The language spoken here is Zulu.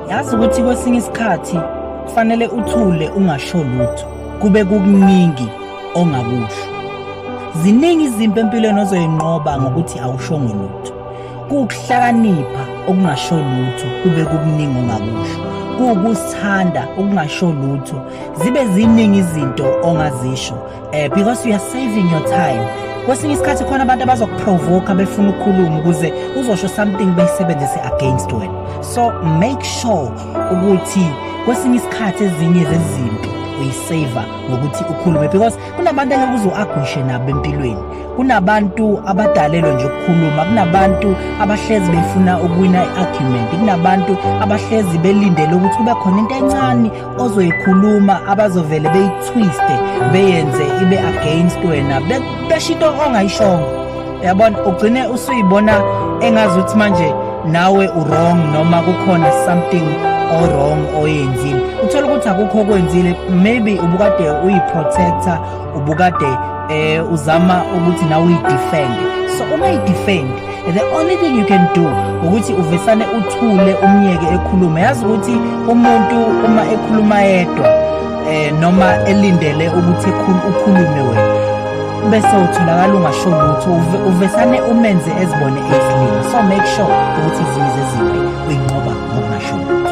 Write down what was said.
yazi ukuthi kwesinye isikhathi kufanele uthule ungasho lutho kube kukuningi ongakusho ziningi izimpi empilweni ozoyinqoba ngokuthi awushongo lutho kuwukuhlakanipha okungasho lutho kube kukuningi ongakusho kuwukusithanda okungasho lutho zibe ziningi izinto ongazisho eh because you are saving your time kwesinye isikhathi khona abantu abazokuprovoka befuna ukukhuluma ukuze uzosho something beyisebenzise against wena so make sure ukuthi kwesinye isikhathi ezinye zezimpi uyisave ngokuthi ukhulume because kunabantu engeke uze uagwishe nabo empilweni kunabantu abadalelwe nje ukukhuluma kunabantu abahlezi befuna ukuwina i-argument kunabantu abahlezi belindele ukuthi kube khona into encane ozoyikhuluma abazovele beyitwiste beyenze ibe against wena besho into ongayishongo yabona ugcine usuyibona engazi ukuthi manje nawe urong noma kukhona something orong oyenzile uthole ukuthi akukho okwenzile maybe ubukade uyiprotector ubukade eh uzama ukuthi nawe uyidefend so uma idefend the only thing you can do ukuthi uvesane uthule umyeke ekhuluma yazi ukuthi umuntu uma ekhuluma yedwa eh noma elindele ukuthi ukhulume wena bese utholakala ungasho lutho uvesane umenze ezibone ezilima so make sure ukuthi izimo zezimbi uyinqoba ngokungasho lutho